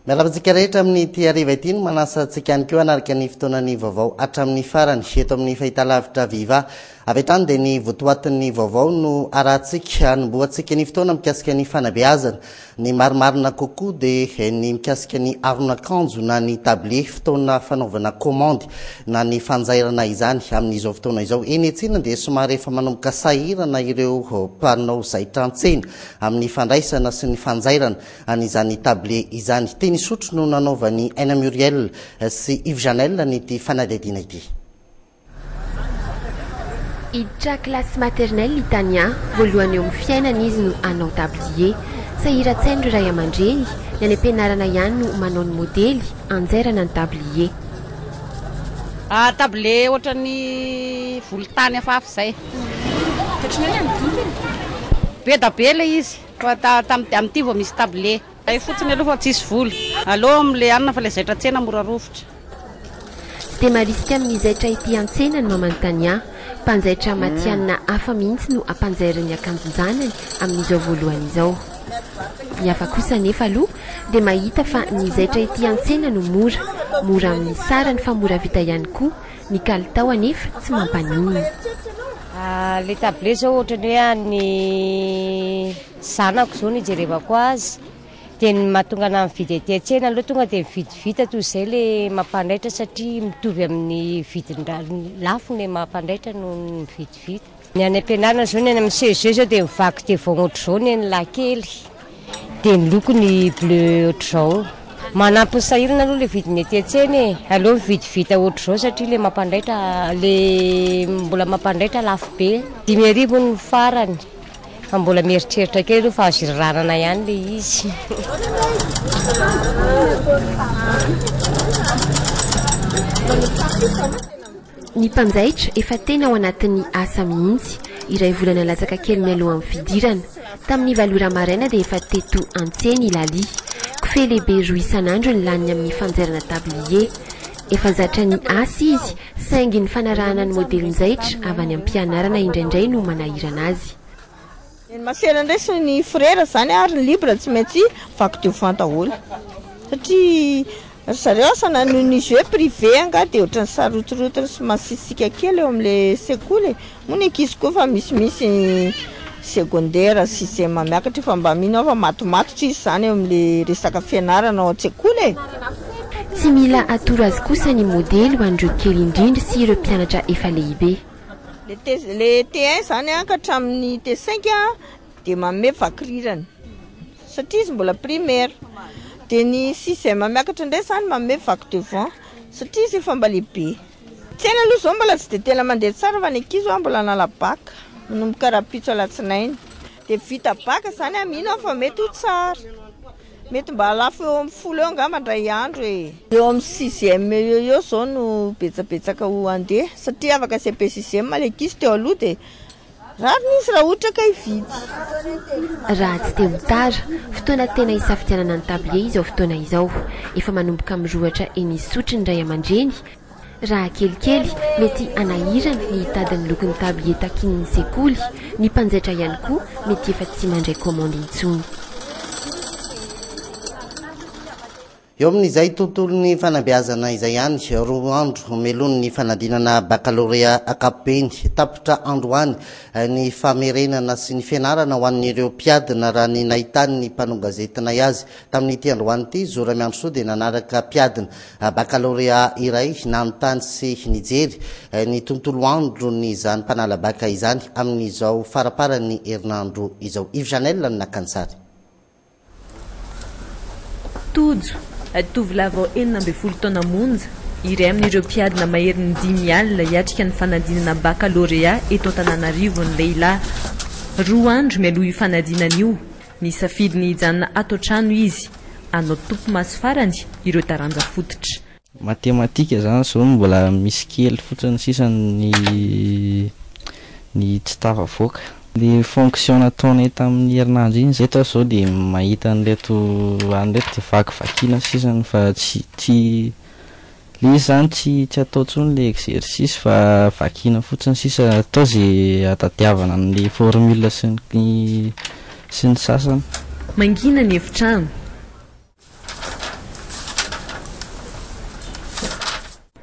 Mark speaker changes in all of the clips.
Speaker 1: Miala amintsika rehetra amin'ny ity hariva ity no manasa antsika ihany koa hanarika ny fotoanan'ny vaovao hatramin'ny farany eto amin'ny fahitalavitra Viva. Avy hatrany dia ny votoatin'ny vaovao no arahantsika hanombohantsika ny fotoana mikasika ny fanabeazana. Ny marimarina kokoa dia ny mikasika ny aron'akanjo na ny tablier, fotoana fanaovana komandy na ny fanjairana izany amin'izao fotoana izao eny an-tsena dia somary efa manomboka sahirana ireo mpanao zaitra an-tsena amin'ny fandraisana sy ny fanjairana an'izany tablier izany. Teny Isotry no nanaovan'i Aina Muriel sy Yves Janel an'ity fanadihadiana ity.
Speaker 2: Hiditra classe maternelle i Tania, voalohany eo amin'ny fiainana izy no hanao tablier. Sahiran-tsaina ireo ray aman-dreny, ny any am-pianarana ihany no manao ny modely, anjairana ny tablier.
Speaker 3: Tablier ohatran'ny volontany hafahafa izay. Ohatran'ny hoe nanodidina. Be da be ilay izy, fa tamin'ity vao misy tablier. Hay fotsiny aloha fa tsisy vola. Aleo amin'ny le hanina fa le zaitra an-tsena mora rovitra. Tsy
Speaker 2: dia marisika amin'ny zaitra ety an-tsena ny Mamantania. Mpanjaitra matihanina hafa mihitsy no ampanjairin'ny akanjon-janany amin'izao voalohany izao. Ny hafa kosa anefa aloha dia mahita fa ny zaitra ety an-tsena no mora, mora amin'ny sarany fa mora vita ihany koa, ny kalitao anefa tsy mampaninona.
Speaker 4: Le tablé zao ohatran'ny hoe an'ny. zanako zao no ijerevako azy dia ny mahatonga anah mividy aty an-tsena aloha tonga dia mividy vita toy izay le mampandaitra satria mitovy amin'ny vidin-dra-ny lafo ny mampandaitra noho ny mividy vita ny any am-pianarana zao ny any amin'ny CEG zao dia mivaky devoaogny ohatr'izao ny an'ny lahy kely dia ny lokony bleu ohatr'izao manampy ny sahirana aloha le vidiny aty an-tsena e! aleo mividy vita ohatr'izao satria le mampandaitra le mbola mampandaitra lafo be dimy arivo hono ny farany. Fa mbola mieritreritra kely aloha fa azo iraranana ihany le izy.
Speaker 2: Ny mpanjaitra efa tena ao anatin'ny asa mihitsy, iray volana latsaka kely mialohan'ny fidirana. Tamin'ny valo ora maraina dia efa teto an-tsena i Lalie. Kofehy lehibe roa isan'andro ny laniny amin'ny fanjairana tablier. Efa zatra ny asa izy, saingy ny fanarahana ny modelin-jaitra avy any am-pianarana indraindray no manahirana azy. Ny masera
Speaker 5: indray sy ny frera izany ary ny libre tsy maintsy vaky devant daholo satria ry zareo asa na noho ny jeux privé angaha dia ohatran'ny sarotsirotiny sy masisika kely eo amin'ilay sekoly e! Hoy ny ankizy koa fa misimisy secondaire sy CEM miakatra fa mba mino aho fa matomatotra izy izany eo amin'le resaka fianarana ao an-tsekoly e! Tsy
Speaker 2: mila atoro azy kosa ny modely ho an'ireo kely indrindra sy ireo mpianatra efa lehibe. Le T1
Speaker 5: izany ka hatramin'ny T5 dia manome vakirirany satria izy mbola primaire. Dia ny sixième miakatra indray izany manome vaky devant satria izy efa mba lehibe. Tsena aloha izao mbola tsy dia tena mandeha tsara fa ny ankizy ho'a mbola hanala bac, manomboka rahampitso alatsinainy. Dia vita bac izany aho mino aho fa mety ho tsara. Mety mba halafo eo amin'ny folo eo angamba indray andro e! Eo amin'ny sixième eo eo izao no betsabetsaka ho handeha satria afaka CEP sixième ilay ankizy teo aloha dia Rariny izy raha ohatra ka hividy.
Speaker 2: Raha tsy te ho tara. Fotoana tena hisafidianana ny tablier izao fotoana izao. Efa manomboka mirohatra eny isotry ny ray aman-dreny. Raha kelikely, mety hanahirana ny hitady ny lokon'ny tablier takian'ny sekoly. Ny mpanjaitra ihany koa mety efa tsy mandray kaomandy intsony.
Speaker 1: Eo amin'izay tontolon'ny fanabeazana izay ihany, roa andro meloany ny fanadinana bakalorea ankapobeny, tapitra androany ny famerenana sy ny fianarana ho an'ireo mpiadina raha ny nahitany ny mpanao gazetinay azy. Tamin'ity androany ity, Zo Ramiandrisoa dia nanaraka mpiadina bakalorea iray nanontany sy nijery ny tontolo andron'izany mpanala baka izany amin'izao faramparan'ny herinandro izao. Yves Janel no naka ny sary.
Speaker 6: Tojo, tovolahy vao enina ambin'ny folo taona monja, iray amin'ireo mpiadina maherin'ny dimy alina hiatrika ny fanadinana bakalorea eto Antananarivo ny lehilahy. Roa andro mialoha io fanadinana io, nisafidy ny hijanona ato an-trano izy, hanao topimaso farany ireo taranja fototra. Matematika
Speaker 7: zany zao no mbola misy kely fotsiny sisa ny ny tsy tafavoaka. Ny fonction nataonay tamin'ny herinandro iny zay tao zao dia mahita an'ireto an'ireto dia vakivakiana sisany fa tsy tsy le izy zany tsy tsy atao tsony le exercice fa vakiana fotsiny sisa atao ze atadiavana amin'ny formule sy ny
Speaker 6: sy ny sasany. Mangina ny efitrano.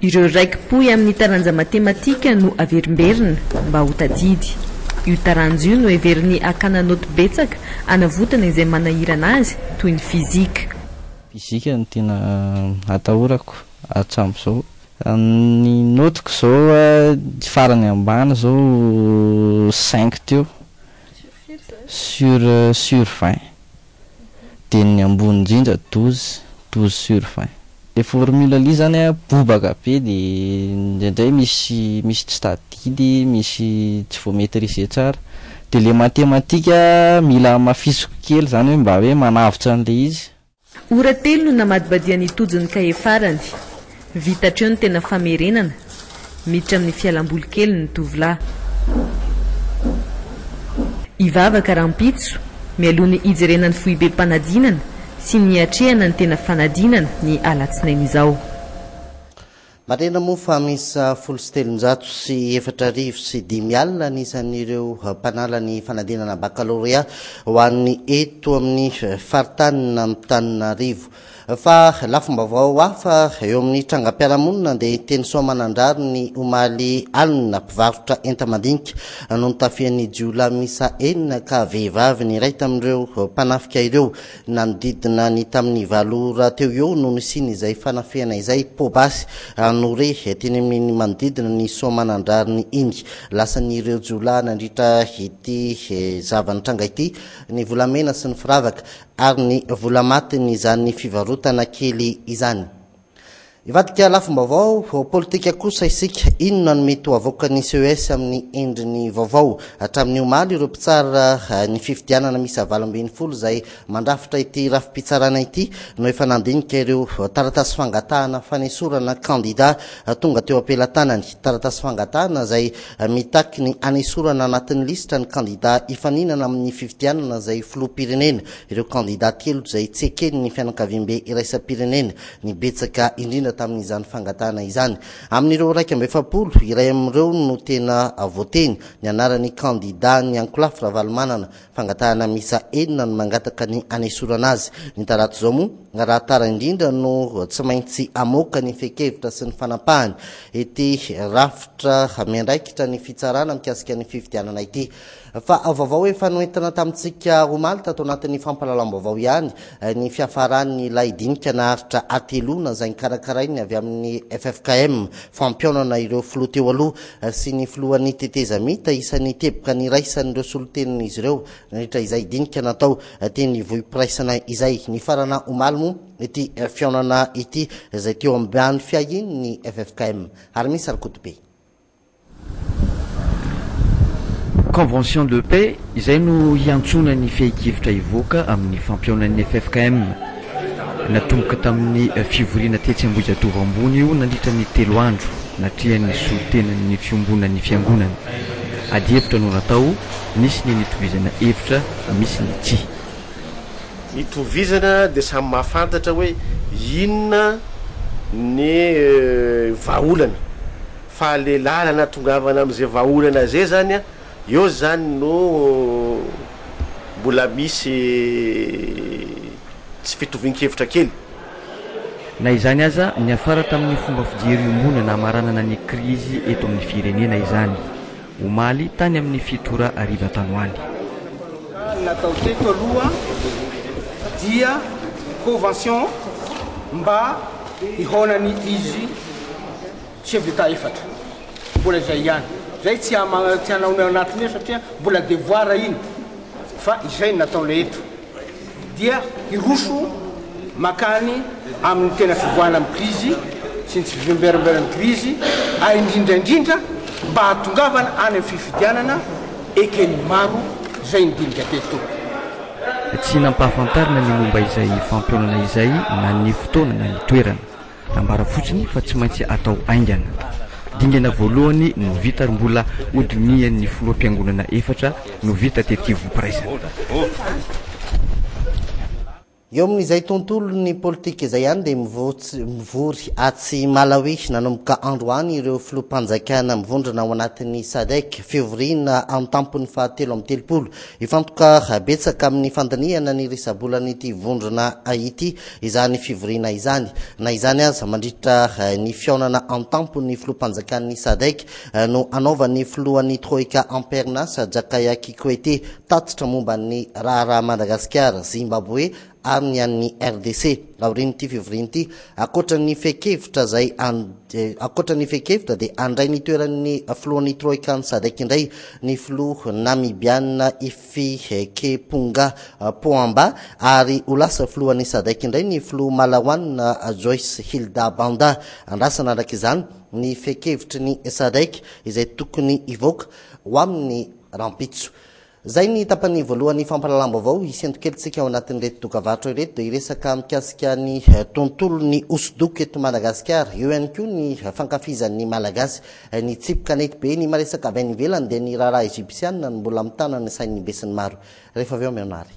Speaker 6: Ireo raiki-pohy amin'ny taranja matematika no averimberina mba ho tadidy. Io taranja io no heverin'ny hakana naoty betsaka hanavotana izay manahirana azy toy ny fizika. Fizika
Speaker 7: no tena atahorako hatramin'izao. Ny naotiko izao ny farany ambany izao cinq teo sur sur vingt. dia ny ambony indrindra douze, douze sur vingt. Le formule lia zany an bobaka be de indraindray misy misy tsy tadidy, misy tsy voa maitriser tsara. De le matematika mila hamafisiko kely zany hoe mba hoe manavotra an'le izy. Ora telo no
Speaker 6: namadibadian'i Tojo ny kahie farany. Vita hatreo ny tena famerenana, miditra amin'ny fialam-boly kely ny tovolahy. Hivavaka rahampitso, mialoha ny hijerena ny foibem-panadinana sy ny hiatrehana ny tena fanadinana ny alatsinainy izao.
Speaker 1: Marihina moa fa miisa folo sy telonjato sy efatra arivo sy dimy alina ny isan'ireo mpanala ny fanadinana bakalorea ho an'ny eto amin'ny faritanin'Antananarivo. Fa lafim-baovao hafa eo amin'ny trangam-piarahamonina dia teny Soamanandrary ny omaly alina, mpivarotra enta-mandinika no notafihan'ny jiolahy miisa enina ka vehivavy ny iray tamin'ireo mpanafika ireo. Nanodidina ny tamin'ny valo ora teo eo no nisian'izay fanafihana izay, poa-basy no re teny amin'iny manodidina ny Soamanandrariny iny. Lasan'ireo jiolahy nandritra ity zava-nitranga ity ny volamena sy ny firavaka. ary ny vola matin' izany fivarotana kely izany. Hivadika lafim-baovao politika kosa isika, inona no mety ho avoakan' ny ces amin' ny endriny vaovao? Hatramin' ny omaly ireo mpitsara ny fifidianana miisa valo ambin'ny folo izay mandrafitra ity rafi-pitsarana ity no efa nandinika ireo taratasy fangatahana fanesorana kandidà tonga teo am-pelatanany, taratasy fangatahana izay Mitaky ny hanesorana anatin'ny lisitra ny kandidà hifaninana amin'ny fifidianana izay filoham-pirenena ireo kandidà telo izay tsy eken'ny fianakaviambe iraisam-pirenena ny betsaka indrindra tamin'izany fangatahana izany. Amin'ireo iraika amby efapolo, iray amin'ireo no tena voateny, ny anaran'ny kandidà Niankolafy Ravalomanana, Fangatahana miisa enina no mangataka ny hanesorana azy. Ny talata izao moa, raha tara indrindra no tsy maintsy hamoaka ny fehin-kevitra sy ny fanampahany ity rafitra miandraikitra ny fitsarana mikasika ny fifidianana ity. Fa vaovao efa noentina tamintsika omaly tato anatin'ny fampahalalam-baovao ihany ny fiafaran'ilay dinika naharitra hateloana izay nikarakarain'ny avy amin'ny ffkm, fampihaonana ireo filoha teo aloha, sy ny filohan'ny tetezamita isan'ny teboka niraisan'ireo solontenin'izy ireo nandritra izay dinika natao teny Ivohipiraisana izay nifarana omaly moa ity fihaonana ity izay teo ambany fiahian'ny ffkm ary misy Rakotobe
Speaker 8: Convention de paix izay no hiantsoana ny fehikivotra hivoaka amin'ny fampihaonan'ny ffkm. Natomboka tamin'ny fivoriana tetsy Ambohijatovo Ambony io nandritra ny telo andro, natrehan'ny solontenan'ny fiombonan'ny Fiangonana. Adihevitra no natao, nisy ny nitovizana hevitra, misy ny tsy. Nitovizana
Speaker 9: dia samy mahafantatra hoe inona ny vahaolana. Fa le lalana atongavana amin'izay vahaolana izay zany an! Eo izany no mbola misy tsy fitovian-kevitra kely.
Speaker 8: Na izany aza, niafara tamin'ny fomba fijery iombonana hamaranana ny krizy eto amin'ny firenena izany, omaly, tany amin'ny fito ora hariva tany ho any. Ny
Speaker 10: natao teto aloha dia convention mba hihaonan'ny ig. Chef d'Etat efatra, mbola izay ihany. Izay tsy hanao ny ao anatiny eo satria mbola devoir iny fa izay no nataonay eto dia hiroso makany amin'ny tena fivoahana amin'ny krizy sy ny tsy fiverimberan'ny krizy ary indrindra indrindra mba hahatongavana any amin'ny fifidianana eken'ny maro izay ny dinika teto. Tsy
Speaker 8: nampahafantarina ny momba izay fampionana izay na ny fotoana na ny toerana. Nambara fotsiny fa tsy maintsy atao haingana. Dingana voalohany no vita ary mbola hodinihan'ny filoham-piangonana efatra no vita tety Ivopiraizana.
Speaker 1: Eo amin'izay tontolon'ny politika izay ihany dia mivory atsy Malawi nanomboka androany ireo filoham-panjakana mivondrona ao anatin'ny Sadc, fivoriana an-tampony fahatelo amby telopolo. Hifantoka betsaka amin'ny fandinihana ny risa-bolan'ity vondrona ity izany fivoriana izany. Na izany aza, mandritra ny fihaonana an-tampon'ny filoham-panjakan'ny Sadec no hanaovan'ny filohan'ny Troika Ampernas Jakaya Kikwete tatitra momba ny raharaha Madagasikara, Zimbaboe ary ny an'ny RDC aorian'ity fivoriana ity. Ankoatra ny fehin-kevitra izay ankoatra ny fehin-kevitra dia handray ny toeran'ny filohan'ny Troika an'ny Sadec indray ny filoha Namibiana Fihekepunga Poamba ary ho lasa filohan'ny Sadc indray ny filoha Malaoanina Joyce Hilda Banda. Andrasana araka izany ny fehin-kevitry ny Sadc izay tokony hivoaka ho amin'ny rahampitso. Izay ny tapany voalohany fampahalalam-baovao hisento kely tsika ao anatin'ireto dokavarotra ireto dia hiresaka mikasika ny tontolon'ny hosodoko eto Madagasikara eo ihany koa ny fankafizan'ny Malagasy Nitsipy kanety be ny maresaka avy any ivelany dia ny raharaha Egyptiana no mbola mitana ny sain'ny besinimaro. Rehefa avy eo mihaona àry.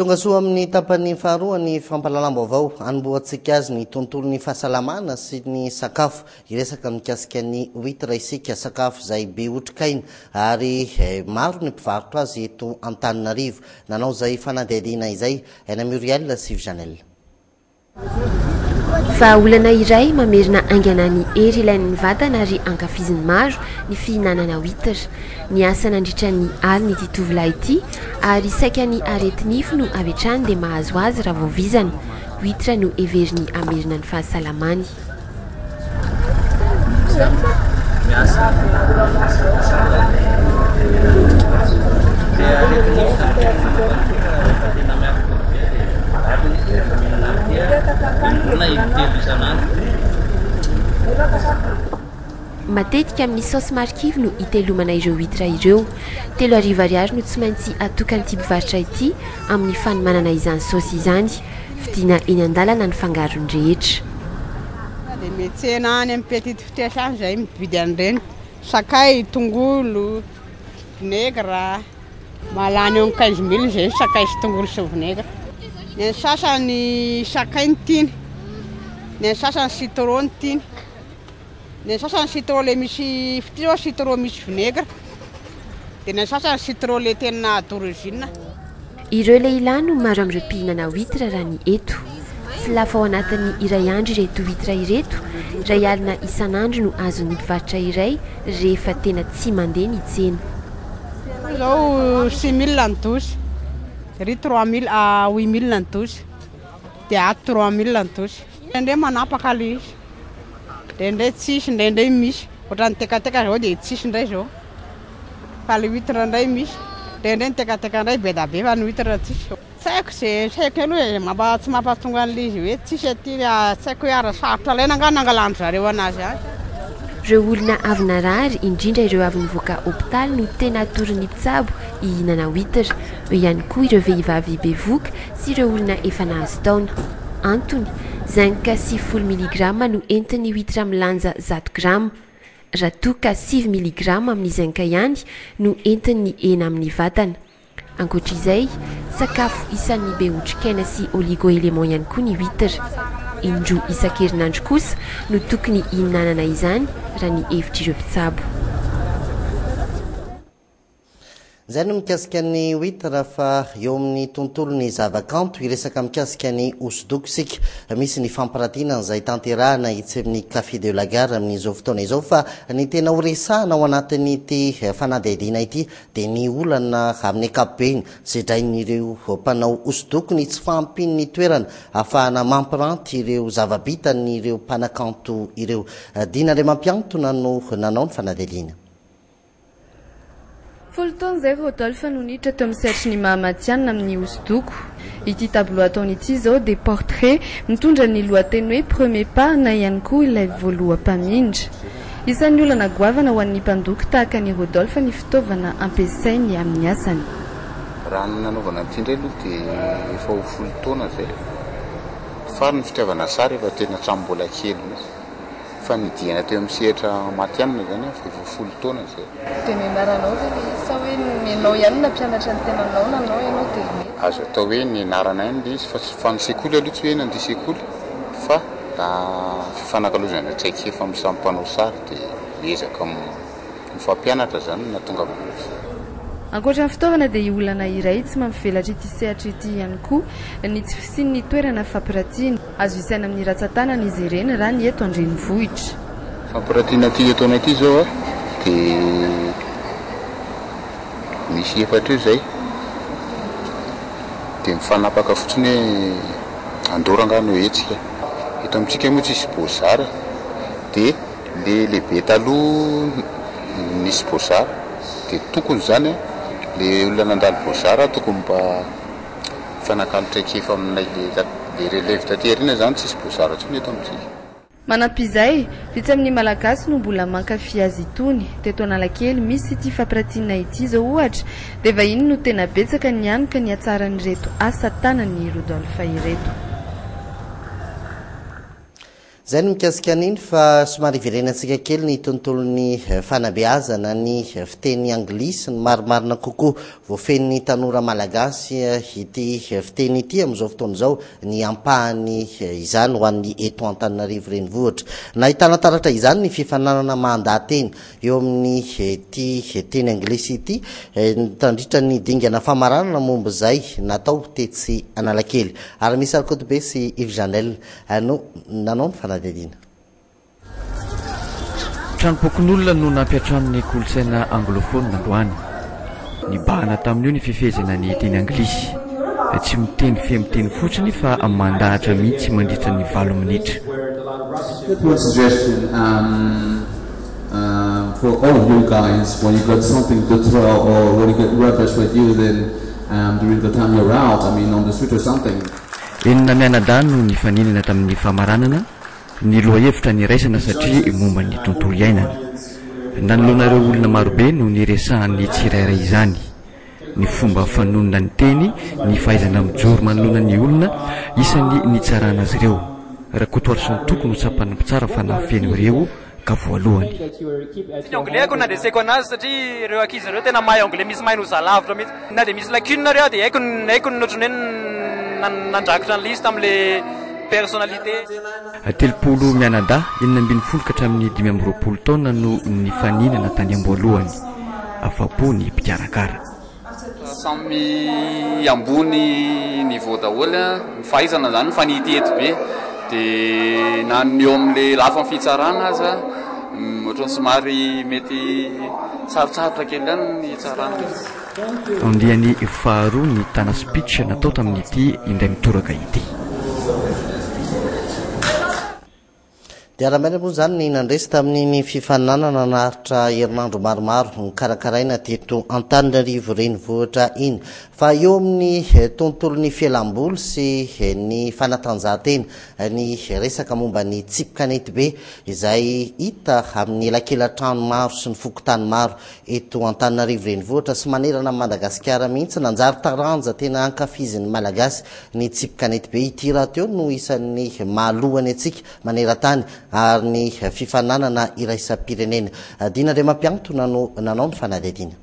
Speaker 1: Tonga soa amin'ny tapany faharoa ny fampahalalam-baovao anombohantsika azy ny tontolon'ny fahasalamana sy ny sakafo. Hiresaka mikasika ny huitre isika, sakafo izay be otrikaina ary eh, maro ny mpivarotra azy eto Antananarivo. Nanao izay fanadihadiana izay Aina Muriel sy Vijanel.
Speaker 2: Vahaolana iray mamerina haingana ny hery ilain'ny vatana ary ankafizin'ny maro ny fihinanana huitre. Niasa nandritra ny alina ity tovolahy ity ary saika ny areti-nify no avy hatrany dia mahazo azy raha vao vizana. Huitre no heveriny hamerina ny fahasalamany. Matetika amin'ny saosy marikivy no itelomana ireo huitre ireo. Telo arivo ariary no tsy maintsy atokan'ity mpivarotra ity amin'ny fanomanana izany saosy izany. Fidiana eny an-dalana ny fangarony rehetra. Tonga dia
Speaker 3: mihetsena any amin'ny petite vitesse any izay mividy an'ireny. Sakay, tongolo, vinaigre. Mahalany eo amin'ny quinze mille izay ny sakay sy tongolo sy ny vinaigre. Ny an'ny sasany sakay no tiany, ny an'ny sasany citron no tiany. Ny an'ny sasany citron le misy fitia zao citron misy vinaigre. Dia ny an'ny sasany citron le tena d'origine. Ireo
Speaker 2: lehilahy no maro amin'ireo mpihinana huitre raha ny eto. Tsy lafo ao anatin'ny iray andro ireto huitre ireto, iray alina isan'andro no azon'ny mpivarotra iray rehefa tena tsy mandeha ny tsena. Io izao
Speaker 3: six mille ny dosy, iry trois mille, huit mille ny dosy, dia ato trois mille ny dosy. Indraindray manapaka le izy, indraindray tsisy, indraindray misy. Ohatran'ny tekateka izao dia tsisy indray izao. Fa le huitre indray misy. Indraindray ny tekateka indray be dia be fa ny huitre tsisy. Tsy haiko izay, tsy haiko aloha e, mba tsy mampahatonga an'le izy hoe tsisy aty, tsy haiko hoe ary sarotra alaina angaha nangalan-dry zareo anazy any. Ireo
Speaker 2: olona avy narary, indrindra ireo avy nivoaka hopitaly no tena atoron'ny mpitsabo hihinana huitre. Eo ihany koa ireo vehivavy bevoka sy ireo olona efa nahazo taona. Antony, zinc sy folo miligrama no entin'ny huitre milanja zato grama. Raha toa ka sivy miligrama amin'ny zinc ihany no entin'ny hena amin'ny vatana. Ankoatra izay, sakafo isan'ny be otrikaina sy oligo-éléments ihany koa ny huitre. Indroa isan-kerinandro kosa no tokony hihinanana izany, raha ny hevitr'ireo mpitsabo.
Speaker 1: Izay no mikasika ny wit raha fa eo amin'ny tontolon'ny zavakanto hiresaka mikasika ny hosodoko isika. Misy ny fampirantiana izay tanterahina etsy amin'ny Café de la Gare amin'izao fotoana izao fa ny tena horesahana ao anatin'ity fanadihadiana ity dia ny olana amin'ny ankapobeny sedrain'ireo mpanao hosodoko ny tsy fahampian'ny toerana ahafahana mampiranty ireo zava-bitan'ireo mpanakanto ireo. Dina Andriamampiantona no nanao ny fanadihadiana.
Speaker 11: Folo taona izay Rodolphe no niditra teo amin'ny sehatry ny maha matihanina amin'ny hosodoko. Ity tableau ataony ity izao dia portrait mitondra ny lohateny hoe Premier pas na ihany koa ilay voaloha mpamindra. Isan'ny olana goavana ho an'ny mpandoko tahaka an'i Rodolphe ny fitaovana ampiasainy amin'ny asany. Raha ny
Speaker 12: nanaovana an'ity indray aloha dia efa ho folo taona izay. Fary ny fitiavana sary efa teny hatramin'ny mbola kely mihitsy. Fa ny diana teo amin'ny sehatra matianina izany aho fa efa folo taona izay. Dia nianaranao
Speaker 11: ve ilay izy sa hoe nenao ihany no nampianatra ny tenanao nanao ianao dia nety? Azo atao hoe nianarana
Speaker 12: ihany ilay izy fa tsy fa ny sekoly aloha tsy hoe nandeha sekoly fa raha fifanakalozana traikefa amin'ny samy mpanao sary dia miezaka ny fampianatra izany no nahatonga amin'izany. Ankoatra ny
Speaker 11: fitaovana dia olana iray tsy mampivelatra ity sehatra ity ihany koa ny tsy fisian'ny toerana fampiratiana. Azo isaina amin'ny ratsan-tanana izy ireny raha ny eto an-drenivohitra. Fampiratiana
Speaker 12: ity etoana ity izao dia misy efatra eo izay dia mifanapaka fotsiny hoe andora angaha no hetsika. Eto amintsika moa tsisy bozara dia. Le lehibe taloha nisy bozara de tokony zany a le olona nandalo bozara tokony mba mifanakalo traikefa aminay le le releve taty arina zany tsisy bozara tsony eto amitsika. Manampy izay,
Speaker 11: vitsy amin'ny Malagasy no mbola mankafy azy itony. Teto Analakely, misy ity fampiratiana ity izao ohatra, dia vahiny no tena betsaka ny any ka nihatsara an'ireto asa tanan'i Rodolphe ireto.
Speaker 1: Izay no mikasika an'iny fa somary hiverenantsika kely ny tontolon'ny fanabeazana ny fiteny anglisy, ny marimarina kokoa voafehin'ny tanora malagasy ity fiteny ity amin'izao fotoana izao ny ampahany izany ho an'ny eto Antananarivo renivohitra. Nahitana taratra izany ny fifaninanana mandaha-teny eo amin'ny ity teny anglisy ity tandritra ny dingana famaranana momba izay natao tetsy Analakely ary Miss Rakotobe sy Yves Janel Ary no nanao ny fanadihadiana.
Speaker 8: Tranompokonolona no nampiantrano ny kolontsaina anglophone androany. Nibahana tamin'io ny fifehezana ny teny anglisy. Tsy miteny feno teny fotsiny fa mandahatra mihitsy mandritra ny valo minitra.
Speaker 13: Enina
Speaker 8: mianadahy no nifaninana tamin'ny famaranana ny lohahevitra niraisana satria momba ny tontolo iainana. Nanoloana ireo olona marobe no niresahan'ny tsirairay izany, ny fomba fanonona ny teny, ny fahaizana mijoro manoloana ny olona, isan'ny nitsarana azy ireo. Rakotoarison-toko no tsapan'ny mpitsara fa nahafeno ireo ka voalohany. Tsy ny
Speaker 14: anglais ko nandreseko anazy satria ireo ankizy ireo tena mahay anglais misy mahay noho za lavitra mihitsy. Na dia misy lacune ary aho dia haiko ny haiko ny ohatran'ny hoe ny nandrakotra an'ilay izy tamin'ilay personnalité. Telopolo
Speaker 8: mianadahy enina ambin'ny folo ka hatramin'ny dimy amby roapolo taona no nifaninana tany am-boalohany. Afa-po ny mpikarakara. Samy
Speaker 15: ambony niveau daholo ny fahaizana izany fa ny ety ety be dia na ny eo amin'ny lafiny fitsarana aza ohatran'ny somary mety sarotsarotra kely ihany ny hitsarana azy. Andiany
Speaker 8: faharoa ny tana speech natao tamin'ity indray mitoraka ity.
Speaker 1: Dia raha marina moa izany ny nandresy tamin'iny fifaninanana naharitra herinandro maromaro nokarakaraina teto Antananarivo renivohitra iny fa eo amin'ny tontolon'ny fialam-boly sy ny fanatanjahantena ny resaka momba ny tsipy kanetibe izay hita amin'ny elakelan-trano maro sy ny fokontany maro Eto Antananarivo Renivohitra sy manerana an'i Madagasikara mihitsy, nanjary taranja tena ankafizin'ny Malagasy ny tsipy kanetibe. Ity rahateo no isan'ny mahaloa ny antsika maneran-tany ary ny fifaninanana iraisam-pirenena. Dina Andriamampiantona no nanao ny fanadihadiana.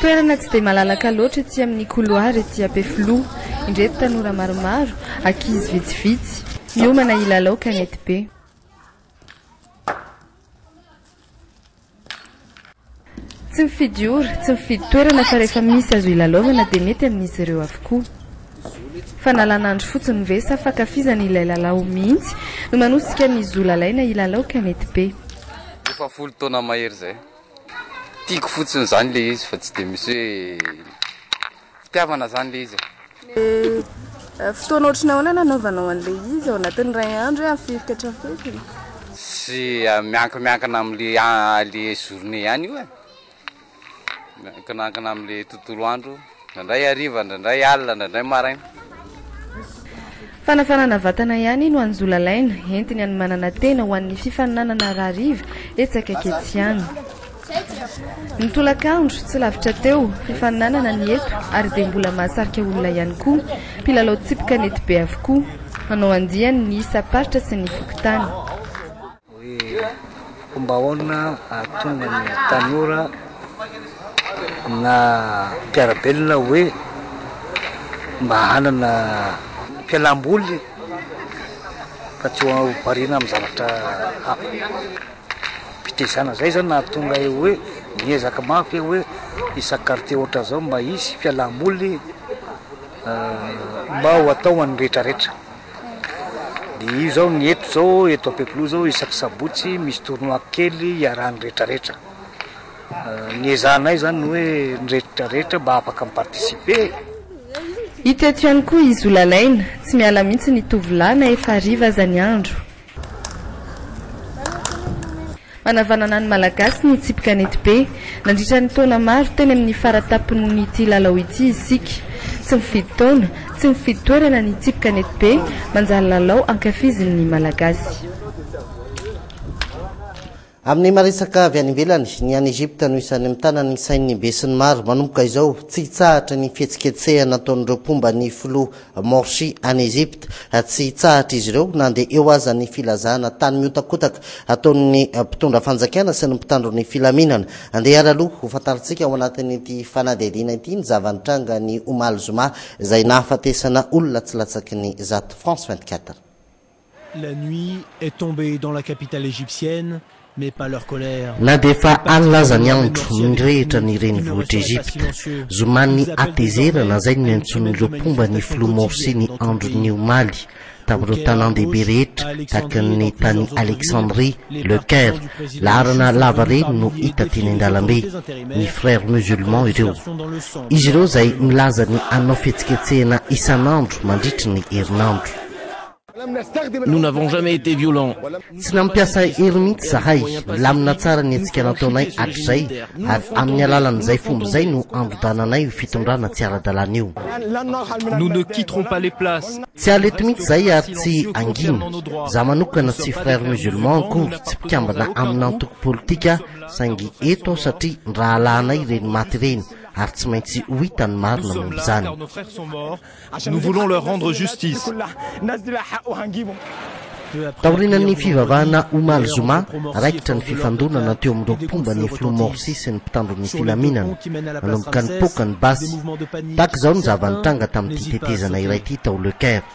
Speaker 11: Toerana tsy dia malalaka loatra ety amin'ny couloir ety Ampefiloha. Indreto tanora maromaro, ankizy vitsivitsy, miomana hilalao kanetibe. Tsy mifidy ora, tsy mifidy toerana fa rehefa misy azo hilalaovana dia mety amin'izy ireo avokoa. Fanalana andro fotsiny ve sa fankafizany ilay lalao mihitsy no manosika ny zo lalaina hilalao ka mety be. Efa folo
Speaker 15: taona mahery izay. Tiako fotsiny izany ilay izy fa tsy dia misy hoe. fitiavana zany le izy e.
Speaker 11: Fotoana ohatry ny ahoana no anaovanao an'le izy? Ao anatin'ny iray andro hoe ampifiriko hatramin'ny fety? Tsy
Speaker 15: miankimiankina amin'le le journée ihany io e, miankinankina amin'le tontolo andro, indraindray hariva, indraindray alina, indraindray maraina.
Speaker 11: Fanafanana vatana ihany no anjolalaina, entiny hanomanana tena ho an'ny fifaninanana rahariva etsy akaiky etsy any. Ny tolakandro, tsy lavitra teo, fifaninanana ny eto ary dia mbola mahasarika olona ihany koa. Mpilalao tsipy kanety be avokoa. Hanao andiany ny isam-paritra sy ny fokontany. Hoe
Speaker 16: fomba ahoana ahatonga ny tanora na mpiara-belona hoe mba hanana fialam-boly fa tsy ho variana amin'ny zavatra hafa. Fitaizana izay izany nahatonga ahy hoe miezaka mafy aho hoe isan-kartie ohatran'izao mba hisy fialam-boly mba ho atao ho an'ny rehetrarehetra. Dia io izao ny eto izao, eto Ampefiloha izao isaky sabotsy misy tournoi kely iarahan'ny rehetra rehetra. Ny ezahanay izany ny hoe ny rehetra rehetra mba afaka mi-participer e!
Speaker 11: Hita eto ihany koa i Zolalaina, tsy miala mihitsy ny tovolahy na efa hariva aza ny andro. Hanavanana ny Malagasy ny tsipy kanetibe. Nandritra ny taona maro, teny amin'ny fara-tampon'ity lalao ity isika. Tsy mifidy taona, tsy mifidy toerana ny tsipy kanetibe, manjary lalao ankafizin'ny Malagasy.
Speaker 1: Amin'ny maha-resaka avy any ivelany, ny any Egypta no isan'ny mitana ny sain'ny besinimaro manomboka izao. Tsy hitsahatra ny fihetsiketsehana ataon'ireo mpomba ny filoha Morsi any Egypta. Tsy hitsahatra izy ireo na dia eo aza ny filazana tany mihotakotaka ataon'ny mpitondra fanjakana sy ny mpitandro ny filaminana. Andehara aloha hofantarintsika ao anatin'ity fanadihadiana ity ny zava-nitranga ny omaly zoma izay nahafatesana olona tsy latsaky ny zato. France 24. La
Speaker 17: nuit est tombée dans la capitale égyptienne, mais pas leur colère.
Speaker 1: Na dia efa alina aza ny andro, nirehitra ny renivohitr'i Egypta. Zoman'ny hatezerana izay no niantsoan'ireo mpomba ny Filoha Morsi ny andron'ny omaly, tamin'ireo tanàn-dehibe rehetra tahaka ny tany Alexandrie, Le Caire, laharana lava reny no hita teny an-dalambe. Ny Frères Musulmans ireo. Izy ireo izay milaza ny hanao fihetsiketsehana isan'andro mandritry ny herinandro.
Speaker 17: Nous n'avons jamais été violents. Tsy nampiasa
Speaker 1: hery mihitsy zahay. Milamina tsara ny hetsika nataonay hatrizay ary amin'ny alalan'izay fomba izay no andodananay io fitondrana tsy ara-dalàna io. Nous ne
Speaker 17: quitterons pas les places. Tsy haly eto mihitsy zahay
Speaker 1: ary tsy hangina. Za manokana tsy frère musulman akory tsy mpikambana amina antoko politika saingy eto aho satria ny rahalahinay ireny maty ireny ary tsy maintsy ho hita ny marina momba izany.
Speaker 17: Nous voulons leur rendre justice.
Speaker 1: Taorian'ny fivavahana omaly zoma, raikitra ny fifandonana teo amin'ireo mpomba ny filoha Morsi sy ny mpitandro ny filaminana. Nanomboka nipoaka ny basy. Tahaka izao ny zava-nitranga tamin'ity tetezana iray ity tao Le Caire.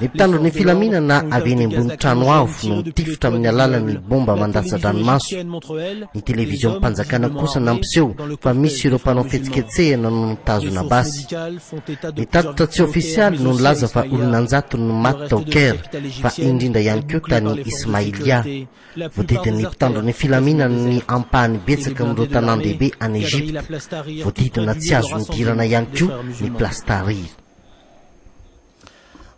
Speaker 1: Ny mpitandro ny filaminana avy eny ambony trano avo no mitifitra amin'ny alalan'ny bomba mandatsa-dranomaso. Ny televiziom-panjakana kosa nampiseho fa misy ireo mpanao fihetsiketsehana no nitazona basy. Ny tatitra tsy ofisialy no nilaza fa olona an-jatony no maty tao Caire, fa indrindra ihany koa tany Ismailia. Voadidin'ny mpitandro ny filaminana ny ampahany betsaka amin'ireo tanàn-dehibe any Egypta. Voadidina tsy azo nidirana ihany koa ny Place Tahrir.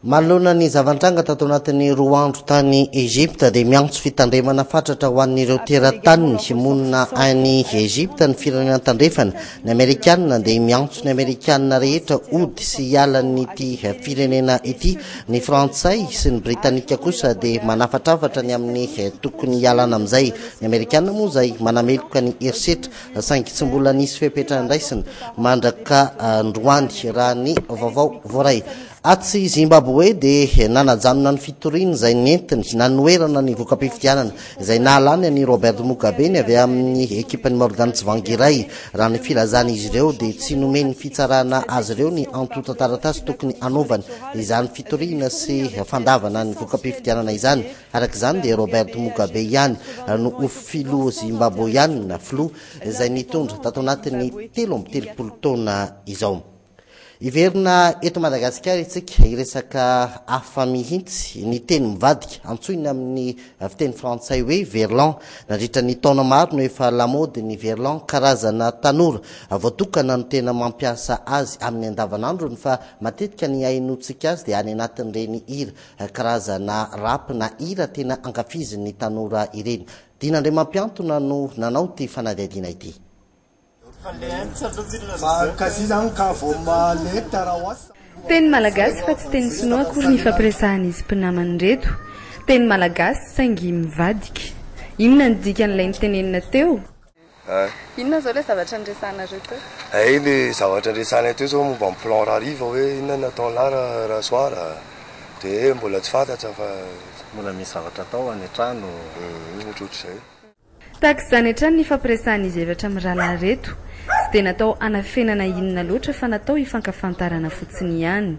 Speaker 1: Manoloana ny zava-nitranga tato anatin'ny roa andro tany Egypta dia miantso fitandremana fatratra ho an'ireo terataniny monina any Egypta ny firenena tandrefana. Ny Amerikanina dia miantso ny Amerikanina rehetra hody sy hiala an'ity firenena ity. Ny Frantsay sy ny Britanika kosa dia manafatrafatra ny amin'ny tokony hialana amin'izay. Ny Amerikanina moa izay manameloka ny herisetra saingy tsy mbola nisy fepetra andraisina mandrak'androany raha ny vaovao voaray. Atsy Zimbaboe dia nanajanona ny fitoriana izay nentiny nanoherana ny voka-pifidianana izay nahalany an'i Robert Mugabe ny avy amin'ny ekipan'i Morgan Tsvangirai raha ny filazan'izy ireo dia tsy nomen'ny fitsarana azy ireo ny antontan-taratasy tokony hanaovany izany fitoriana sy fandavana ny voka-pifidianana izany Araka izany dia Robert Mugabe ihany no ho filoha Zimbaboeana filoha izay nitondra tato anatin'ny telo amby telopolo taona izao. Hiverina eto Madagasikara isika hiresaka hafa mihitsy ny teny mivadika antsoina amin'ny fiteny frantsay hoe verlan. Nandritra ny taona maro no efa lamaody ny verlan, karazana tanora voatokana no tena mampiasa azy amin'ny andavanandrony fa matetika ny ahinontsika azy dia any anatin'ireny hira Karazana rap na hira tena ankafizin'ny tanora ireny. Dina Andriamampiantona no nanao ity fanadihadiana ity.
Speaker 11: Teny malagasy fa tsy teny sinoa akory ny hifampiresahan'izy mpinamana ireto. Teny malagasy saingy mivadika. Inona ny dikan'ilay notenenina teo? Inona
Speaker 18: zao le zavatra niresahanareo teo? Hay le zavatra
Speaker 19: resahanay teo zao momba ny plan rahariva hoe inona no nataon'lah raha soir de mbola tsy fantatsa fa. Mbola misy
Speaker 1: zavatra atao any an-trano. Ohatrohatr'izay.
Speaker 19: Tahaka
Speaker 11: izany hatrany ny ifampiresahan'izy efatra amin'ny rahalahy ireto. Tsy dia natao hanafenana inona loatra fa natao hifankafantarana fotsiny ihany.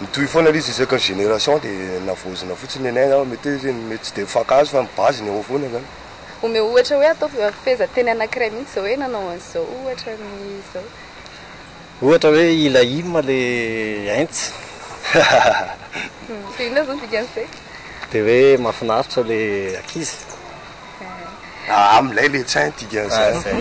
Speaker 11: Mitohy
Speaker 19: foana ilay izy isaka génération dia navaozina fotsiny ny aina, mety hoe izy mety tsy dia mifankahazo fa ny base ny ao foana izany. Omeo ohatra hoe
Speaker 18: ataovy fehezanteny anankiray mihitsy izao hoe nanao an'izao ohatra ny izao.
Speaker 20: Ohatra hoe ilay hymn ilay Heinz.
Speaker 18: Dia inona izao ny dikan'izay? Dia hoe
Speaker 20: mahafinaritra ilay ankizy. Aa
Speaker 19: milay le tsain dikan'izany.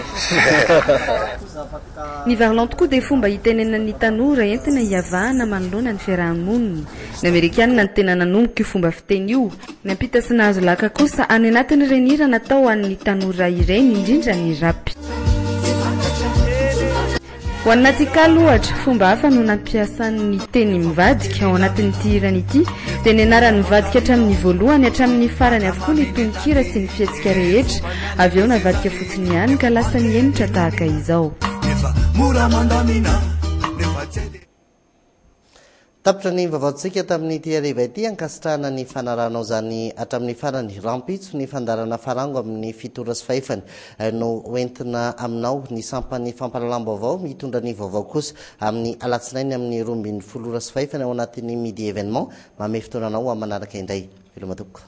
Speaker 11: Ny varlon tokoa dia fomba hitenenan'ny tanora entina hiavahana manoloana ny fiaraha-monina. Ny amerikanina no tena nanomboka io fomba fiteny io. Nampita sy nahazo laka kosa any anatin'ireny hira natao ho an'ny tanora ireny, indrindra ny rap. Ho an'i Natikal, ohatra, fomba hafa no nampiasany ny teny mivadika ao anatin'ity hirany ity, dia nianarany mivadika hatramin'ny voalohany hatramin'ny farany avokoa ny tononkira sy ny fihetsika rehetra, avy eo navadika fotsiny ihany ka lasa nihemotra tahaka izao.
Speaker 1: Tapitra ny vaovaontsika tamin'ity hariva ity ankasitrahana ny fanarahanao izany hatramin'ny farany. Rahampitso ny fandaharana Farango amin'ny fito ora sy fahefany no ho entina aminao. Ny sampan'ny fampahalalam-baovao mitondra ny vaovao kosa amin'ny alatsinainy amin'ny roa ambin'ny folo ora sy fahefany ao anatin'ny Midi Evenement. Mamehy fotoana anao ho amin'ny manaraka indray. Veloma tompoko.